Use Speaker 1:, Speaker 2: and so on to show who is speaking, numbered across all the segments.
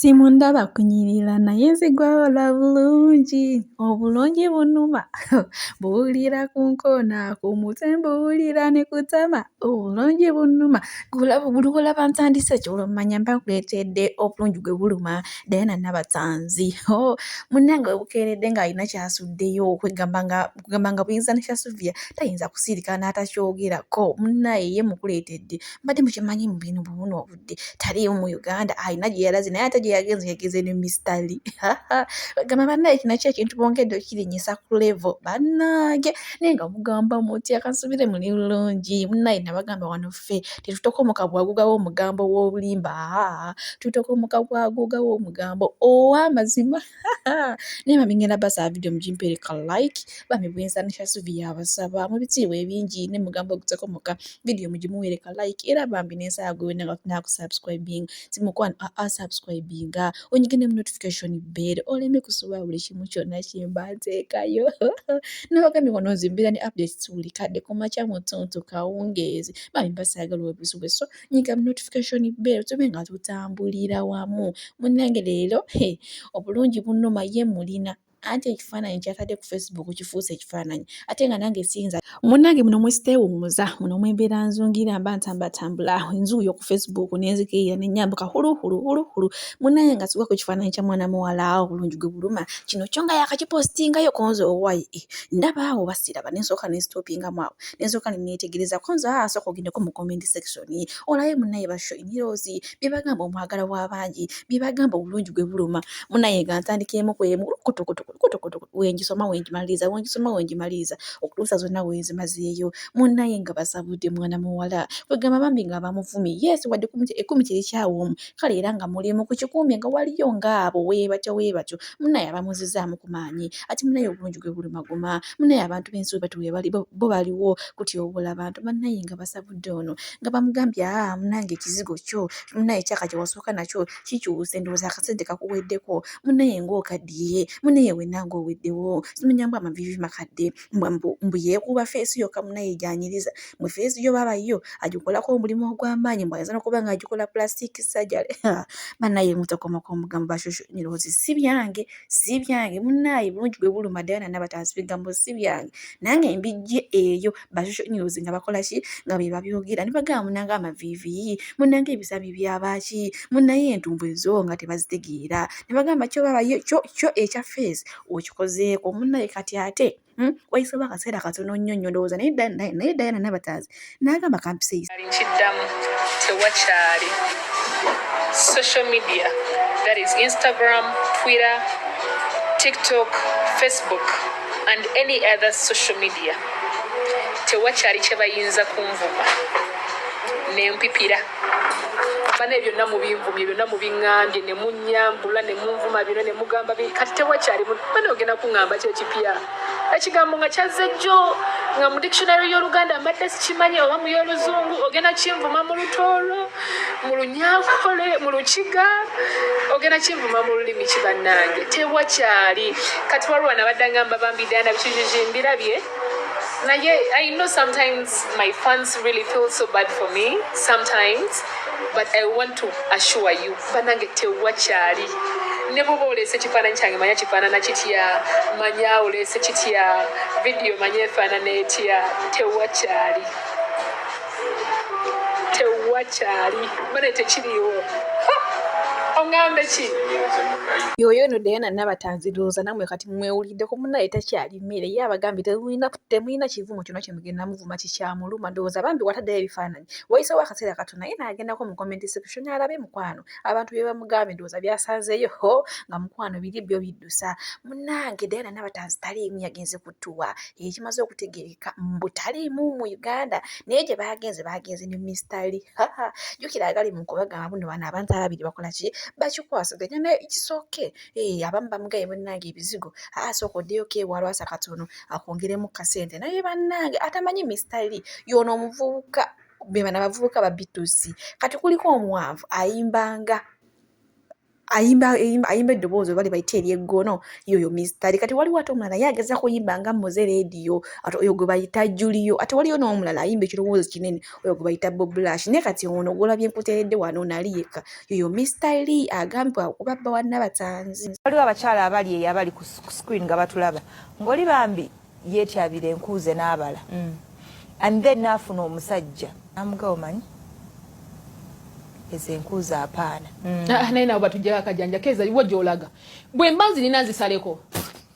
Speaker 1: Team ndaba kunyirira naye nzigwawo lwa bulungi obulungi bunuma buwulira ku nkoona ku mutwe mbuwulira ne ku ttama obulungi bunuma buli lw'olaba ntandise ky'olwo mmanya mba nkwetedde obulungi gwe buluma Diana Nabatanzi hoo munnange we bukeeredde ng'alina ky'asuddeyo kwegamba nga kwegamba nga buyinza ne Sylvia tayinza kusirika n'atakyogerako munnaaye ye mmukuleetedde mbadde mukimanyi mu bino buwunoobu. yadde taliimu mu uganda alina gye yalaze naye ate gye yagenze yagenze ne mistali bagamba banaye kino ki ekintu bongedde okirinyisa ku levo bannange naye nga mugamba mutya kansubire muli bulungi munaye nabagamba wano ffe tetutokomoka bwagugawo omugambo w'obulimba aa tutokomoka bwagugawo omugambo ow'amazima naye bami ngenda basaba video mugimpereka like bami bwenzanisha suvi yabasaba mu bitiibwa ebingi ne mugambo oguteko muka video mugimuwereka like era bambi nensaba gwe wena nga tunaa kusubscribing simukwano aa ah, ah, subscribinga onyige ne mu notification bell oleme kusuba buli kimu kyonna kyemba nteekayo nabagambye wano nzimbira ne updates buli kadde kumakya mutuntu kawungeezi bami basagala obisubwe so nyiga mu notification bell tube nga tutambulira wamu munnange leero he obulungi bunnuma ye mulina anti ekifaananyi kyatadde ku facebook kifuuse ekifaananyi ate nga nange siyinza munnange muno mwesiteewummuza muno mwembeera nzungira mba ntambatambula enzuuyo ku facebook nenzikirira nenyambuka huluhuluhuluhulu munnange nga siwa ku kifaananyi kya mwana muwala obulungi gwe buluma kino kyo nga yakakipositingayo konze owaye eh, ndaba awo basiraba nensooka nensitoopingamu awo ensooka ne neetegereza kuba nze aa sooka ogendeko mu comment section olabe munnaye ba Shyrose bye bagamba omwagala w'abangi bye bagamba obulungi gwe buluma munnaye nga ntandika emu ku emu kutukutukutukutukutu we ngisoma we ngimaliriza we ngisoma we ngimaliriza okutuusa zonna we nzimazeeyo munnaye nga basabudde mwana muwala kwegamba bambi nga abamuvumi yes wadde ekumi kiri kyawa omu kale era nga mulimu ku kikuumi nga waliyo ng'abo weebatyo weebatyo munaye abamuzizaamu ku maanyi ati munaye obulungi gwe bulumaguma munaye abantu b'ensi webatyo webali bo baliwo kutyobola abantu banaye nga basabudde ono nga bamugambye aa munange ekizigo kyo munaye kyaka kye wasooka nakyo kikyuse ndowooza akasente kakuweddeko munaye ng'okaddiye munaye wenna ng'oweddewo simanya mbu amaviivi makadde mbu yeekuba feesi yokka munaye gy'anyiriza mwe feesi yo baaba yo agikolako omulimu ogw'amaanyi mbu ayinza n'okuba ng'agikola plastic surgery banaye mutokomoka omugambo bashushu niroozi si byange si byange munaye bulungi bwe buluma dayana n'abatansi bigambo si byange nange mbijje eyo bashushu niroozi nga bakola ki nga be babyogera ne bagamba munange amaviiviyi munange ebisami byabaaki munaye entumbwe zo nga tebazitegeera ne bagamba kyo baaba yo kyo ekya feesi okikozeeko munaye kati ate hmm? wayisewo akaseera katono nnyo nnyo ndowooza naye naye dayana nabataazi n'agamba kampiseyi nkiddamu
Speaker 2: tewakyali social media that is instagram twitter tiktok facebook and any other social media tewakyali kye bayinza kunvuma nempipira bane byonna mubinvumye byonna mubiŋambye ne munyambula ne munvuma byonna ne mugamba kati tewakyali bane ogenda kuŋamba kyekipya ekigambo nga kyazze jjo nga mu dictionary y'oluganda mbadde sikimanyi oba mu y'oluzungu ogenda kinvuma mu lutoolo mu lunyankole mu lukiga ogenda kinvuma mu lulimi kibannange tewakyali kati waliwo nabadde ngamba bambi dana bikijiji mbirabye naye i know sometimes my fans really feel so bad for me sometimes but i want to assure you banange tewakyali ne bwoba oleese ekifaananyi kyange manya kifaanana kitya manya oleese kitya vidiyo manya efaanana etya tewakyali tewakyali bane tekiriwo oŋambe ki yoyo
Speaker 1: no diana nabatanziruuza namwe kati mwewuliddeko munaye takyali emmere ye abagambye temulina temulina kivumo kyona kyemugenda muvuma kikyamuluma ndowooza bambi wataddeyo ebifaananyi wayisewo akaseera katono naye naagendako mu comment section alabe mukwano abantu bye bamugambye ndowooza byasanzeeyo ho nga mukwano biri byo biddusa munnange diana nabatanzi taliimu yagenze kutuwa ekimaze okutegereka mbu taliimu mu uganda naye gye baagenze baagenze ne mistali jukira agali mu kubagamba buno bano abantu ababiri bakola ki bakikwasaganya naye kisooke Hey, eh, abamu bamugaye bannange ebizigo aa ah, sooka oddeyoko ewalwasa katono akwongeremu kasente naye bannange atamanyi mistali yono omuvubuka bebana bavubuka babitusi kati kuliko omwavu ayimbanga ayimba ayimba eddoboozi oba libayita eryeggono yoyo mistari kati waliwo ate omulala ye ageza kuyimba nga muze rediyo ate oyo gwe bayita juliyo ate waliyo n'omulala ayimba ekirowoozo kinene oyo gwe bayita boblash naye kati ono gwolabye nkuteredde wano nali yekka Yoyo Mister Lee agambibwa okuba bba wa Nabatanzi. Waliwo abakyala abali
Speaker 3: eyo abali ku screen nga batulaba ng'oli bambi yeetyabira enkuuze n'abala mm. and then naafuna omusajja namugawo manyi ezo enkuuze apaana mm. ah, naye nabo
Speaker 2: batujjako akajanja keeza iwo gy'olaga bwe mba nzirina nzisaleko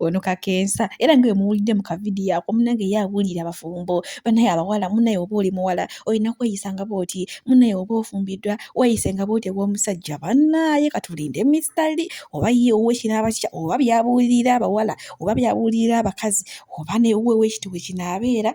Speaker 1: ono kakensa era nga wemuwulidde mu kavidiyo ako munange ye awulira abafumbo banaye abawala munaye oba oli muwala olina kweyisa nga bwoti munaye oba ofumbiddwa weyise nga bwoti ew'omusajja banaye katulinde mistali oba ye owekinaaba kitya oba byabuulirira abawala oba byabuulirira abakazi oba newe wekiti wekinaabeera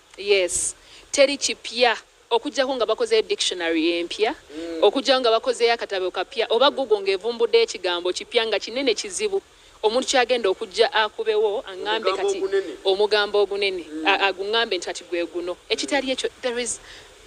Speaker 2: Yes teri kipya okujjako nga bakozeyo dictionary empya mm. okujjako nga bakozeyo akatabo kapya oba google nga evumbudde ekigambo kipya nga kinene kizibu omuntu kyagenda okujja akubewo aŋambe kati omugambo ogunene mm. aguŋambe nti kati gwe guno ekitali ekyo there is